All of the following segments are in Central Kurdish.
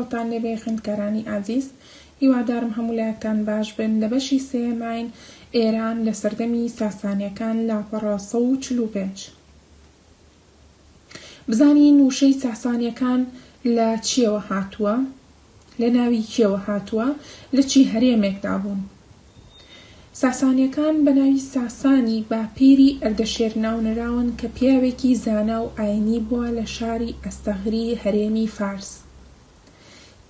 خۆتان لێبێ خوێندکارانی ئازیز هیوادارم هەموو لایەکتان باش بن لە بەشی سێیەماین ئێران لە سەردەمی ساسانیەکان لاپەڕە سەد و چل و پێنج بزانین وشەی ساسانیەکان لە چیەوە هاتووە لە ناوی کێوە هاتووە لە چی هەرێمێکدا بوون. ساسانیەکان بە ناوی ساسانی باپیری ئەردەشێر ناونراون کە پیاوێکی زانا و ئاینی بوە لە شاری ئەستەغری هەرێمی فارس.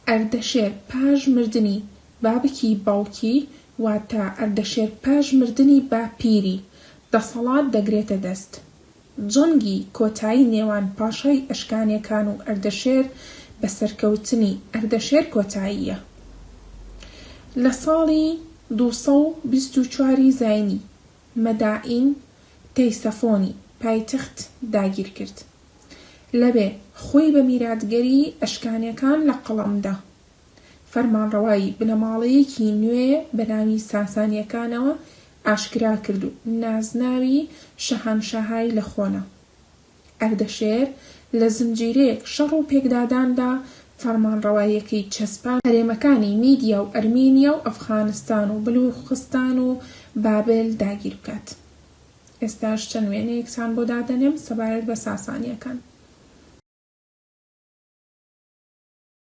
ئەردەشێر پاش مردنی بابکی باوکی واتە ئەردەشێر پاش مردنی باپیری دەسەڵات دەگرێتە دەست. جەنگی کۆتایی نێوان پاشای ئەشکانیەکان و ئەردەشێر بە سەرکەوتنی ئەردەشێر کۆتایی یە. لە ساڵی دوو سەد و بیست و چوار ی زاینی، مەدائین تەیسەفۆنی پایتەخت داگیر کرد. لەوێ خۆی بە میراتگەری ئەشکانیەکان لە قەڵەم دا. فەرمانڕەوایی بنەماڵەیەکی نوێ بەناوی ساسانیەکانەوە ئاشکرا کرد و نازناوی شەهانشاهای لە خۆنا. ئەردەشێر لە زنجیرەیەک شەڕ و پێکداداندا فەرمانڕەواییەکەی چەسپاند. هەرێمەکانی میدیا و ئەرمینیا و ئەفغانستان و بلووخستان و بابل داگیر بکات. ئێستاش چەند وێنەیەکتان بۆ دادەنێم سەبارەت بە ساسانیەکان.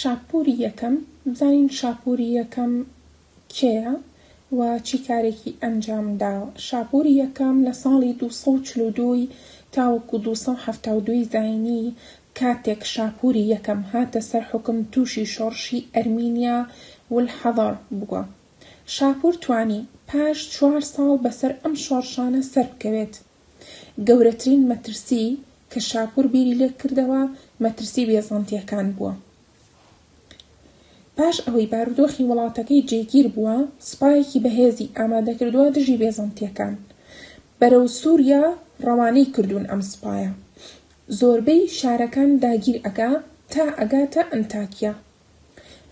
شاپووری یەکەم، بزانین شاپووری یەکەم کێیە و چی کارێکی ئەنجام داوە؟ شاپووری یەکەم لە ساڵی دوو سەد و چل و دوو ی تاوەکو دوو سەد و حەفتا و دوو ی زاینی کاتێک شاپووری یەکەم هاتە سەر حوکم تووشی شۆڕشی ئەرمینیا والحضر بووە. شاپوور توانی پاش چوار ساڵ بەسەر ئەم شۆڕشانە سەربکەوێت. گەورەترین مەترسی کە شاپوور بیری لێکردەوە مەترسی بێزەنتییەکان بووە. پاش ئەوەی بارودۆخی وڵاتەکەی جێگیر بووە، سوپایەکی بەهێزی ئامادەکردووە دژی بێزەنتییەکان. بەرەو سووریا ڕەوانەی کردوون ئەم سوپایە. زۆربەی شارەکان داگیر ئەکا تا ئەگاتە ئەنتاکیا.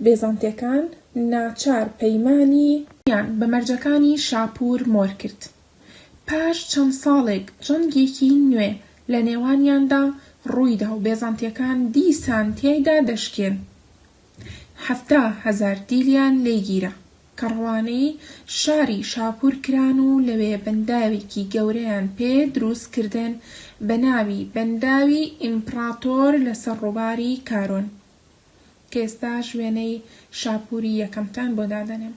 بێزەنتییەکان ناچار پەیمانی. یان بە مەرجەکانی شاپوور مۆر کرد. پاش چەند ساڵێک جەنگێکی نوێ لە نێوانیاندا ڕوویدا و بێزەنتیەکان دیسان تیایدا دەشکێن. حەفتا هەزار دیلیان لێ گیرا، کە ڕەوانەی شاری شاپور کران و لەوێ بەنداوێکی گەورەیان پێ دروست کردن بە ناوی بەنداوی ئیمپڕاتۆر لە سەر ڕووباری کارۆن، کە ئێستاش وێنەی شاپوری یەکەمتان بۆ دادەنێم.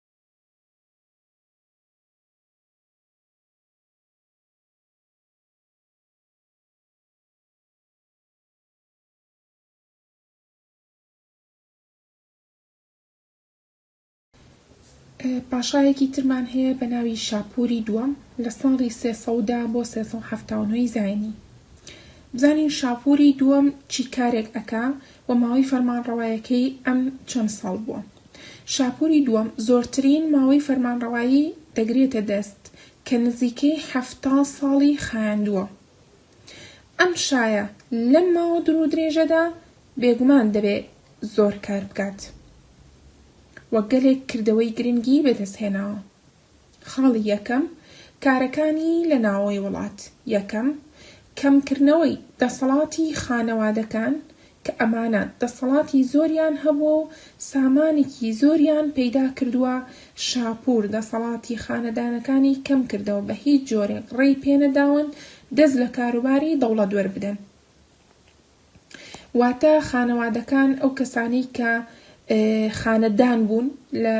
پاشایەکی ترمان هەیە بە ناوی شاپووری دووەم لە ساڵی سێ سەد و دە بۆ سێ سەد و حەفتا و نۆی زایینی بزانین شاپووری دووەم چی کارێک ئەکا و ماوەی فەرمانڕەوایەکەی ئەم چەند ساڵ بووە شاپوری دووەم زۆرترین ماوەی فەرمانڕەوایی دەگرێتە دەست کە نزیکەی حەفتا ساڵی خایاندووە. ئەم شایە لەم ماوە دوورودرێژەدا بێگومان دەبێ زۆر کار بکات و گەلێک کردەوەی گرنگی بەدەستهێناوە. خاڵی یەکەم، کارەکانی لە ناوەوەی وڵات، یەکەم، کەمکردنەوەی دەسەڵاتی خانەوادەکان کە ئەمانە دەسەڵاتی زۆریان هەبووە و سامانێکی زۆریان پەیدا کردووە، شاپوور دەسەڵاتی خانەدانەکانی کەم کردەوە بە هیچ جۆرێک ڕێی پێنەداون دەست لە کاروباری دەوڵەت وەربدەن. واتە خانەوادەکان ئەو کەسانەی کە خانە دان بوون لە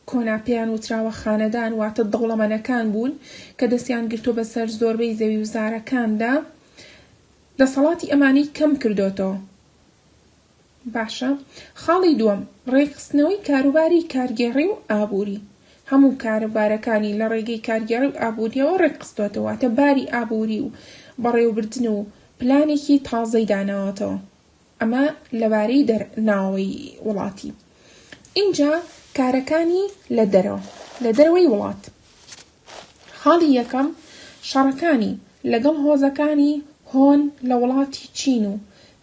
کۆنا پێیان وتراوە خانەدان واتە دەوڵەمەنەکان بوون کە دەستیان گرتو بەسەر زۆربەی زەوی و زارەکاندا دەسەڵاتی ئەمانی کەم کردۆتەوە باشە خاڵی دووەم ڕێکخستنەوەی کاروباری کارگێڕی و ئابووری هەموو کارەبارەکانی لە ڕێگەی کارگێڕی و ئابووریەوە ڕێکخستۆتەوە تە باری ئابووری و بەڕێوبردن و پلانێکی تازەی داناوەتەوە ئەمە لەبارەی دەر ناوەوەی وڵاتی ئینجا کارەکانی لە دەرەوە لە دەرەوەی وڵات خاڵی یەکەم شەڕەکانی لەگەڵ هۆزەکانی هۆن لە وڵاتی چین و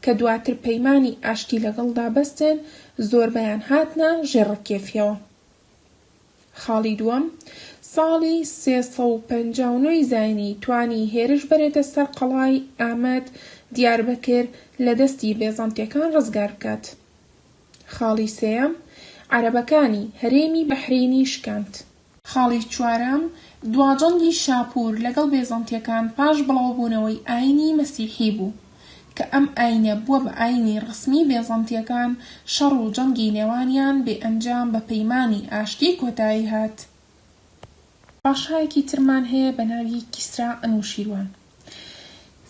کە دواتر پەیمانی ئاشتی لەگەڵدا بەستێن زۆربەیان هاتنە ژێر ڕکێفیەوە. خاڵی دووەم، ساڵی سێ سەد و پەنجا و نۆ ی زاینی توانی هێرش بەرێتە سەر قەڵای، ئامەد، دیاربەکر، لە دەستی بێزەنتیەکان ڕزگار بکات. خاڵی سێیەم، عەرەبەکانی هەرێمی بەحرەینی شکاند. خاڵی چوارەم، دواجەنگی شاپور لەگەڵ بێزەنتیەکان پاش بڵاوبوونەوەی ئاینی مەسیحی بوو. کە ئەم ئایینە بووە بە ئایینی ڕەسمی بێزەنتییەکان، شەڕ و جەنگی نێوانیان بێ ئەنجام بە پەیمانی ئاشتی کۆتایی هات. پاشایەکی ترمان هەیە بە ناوی کیسرا ئەنوشیروان.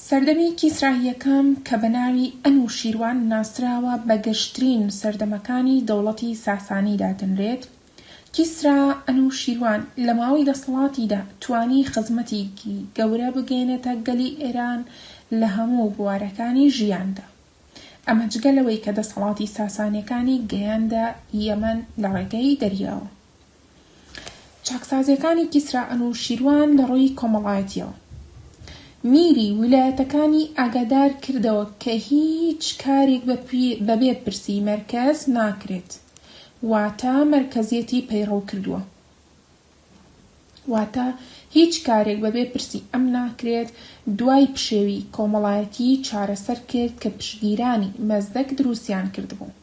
سەردەمی کیسرا یەکەم کە بە ناوی ئەنوشیروان ناسراوە بە گەشترین سەردەمەکانی دەوڵەتی ساسانی دادەنرێت، کیسرا ئەنوشیروان لە ماوەی دەسەڵاتیدا توانی خزمەتیکی گەورە بگەینێتە گەلی ئێران لە هەموو بوارەکانی ژیاندا ئەمە جگە لەوەی کە دەسەڵاتی ساسانیەکانی گەیاندە یەمەن لە ڕێگەی دەریاوە. چاکسازیەکانی کیسرا ئەنوشیروان لە ڕووی کۆمەڵایەتیەوە میری ویلایەتەکانی ئاگادار کردەوە کە هیچ کارێک بە بێ پرسی مەرکەز ناکرێت واتە مەرکەزیەتی پەیڕەو کردووە. واتە هیچ کارێک بەبێ پرسی ئەم ناکرێت، دوای پشێوی کۆمەڵایەتی چارەسەر کرد کە پشگیرانی مەزدەک دروستیان کردبوو.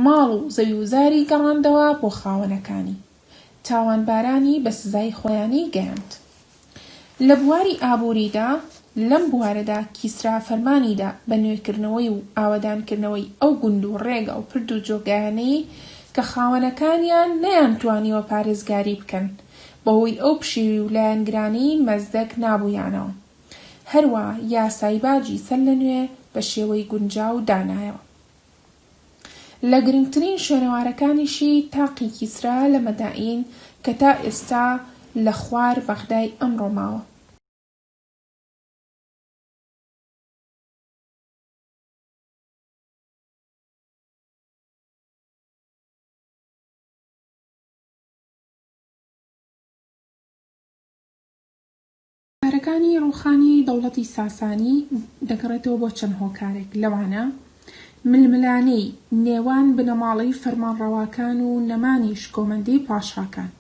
ماڵ و زەویوزاری گەڕاندەوە بۆ خاوەنەکانی. تاوانبارانی بە سزای خۆیانی گەیاند. لە بواری ئابووریدا، لەم بوارەدا کیسرا فەرمانیدا بە نوێکردنەوەی و ئاوەدانکردنەوەی ئەو گوند و ڕێگا و پرد و جۆگایانەی کە خاوەنەکانیان نەیانتوانیوە پارێزگاری بکەن بەهۆی ئەو پشێوی و لایەنگرانەی مەزدەک نابوویانەوە هەروا یاسای باجی سەرلەنوێ بە شێوەی گونجاو دانایەوە. لە گرنگترین شوێنەوارەکانیشی تاقی کیسرا لە مەدائین کە تا ئێستا لە خوار بەغدای ئەمڕۆ ماوە. کارەکانی ڕووخانی دەوڵەتی ساسانی دەگەڕێتەوە بۆ چەند هۆکارێک، لەوانە، ململانێی نێوان بنەماڵەی فەرمانڕەواکان و نەمانی شکۆمەندیی پاشاکان.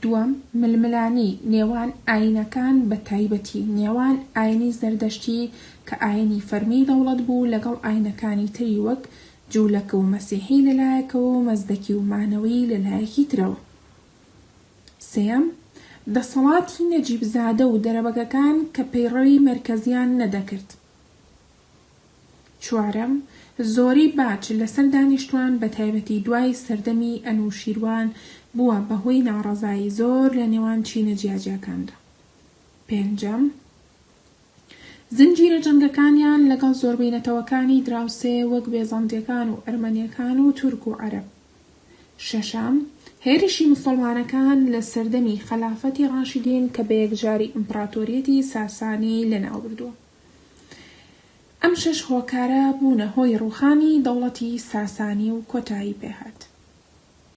دووەم، ململانێی نێوان ئایینەکان بە تایبەتی نێوان ئایینی زەردەشتی کە ئایینی فەرمیی دەوڵەت بوو لەگەڵ ئایینەکانی تری وەک جوولەکە و مەسیحی لە لایەکەوە و مەزدەکی و مانەوەیی لە لایەکی ترەوە. سێیەم، دەسەڵاتی نەجیب زادە و دەرەبەگەکان کە پەیڕەوی مەرکەزیان نەدەکرد. چوارەم، زۆری باج لەسەر دانیشتوان بە تایبەتی دوای سەردەمی ئەنوشیروان بووە بە هۆی ناڕەزایی زۆر لە نێوان چینە جیاجیاکاندا. پێنجەم، زنجیرە جەنگەکانیان لەگەڵ زۆربەی نەتەوەکانی دراوسێ وەک بێزەنتیەکان و ئەرمەنیەکان و تورک و عەرەب. شەشەم، هێرشی موسڵمانەکان لە سەردەمی خەلافەتی ڕاشیدین کە بەیەکجاری ئیمپڕاتۆریەتی ساسانی لەناوبردووە. ئەم شەش هۆکارە بوونە هۆی ڕووخانی دەوڵەتی ساسانی و کۆتایی پێهات.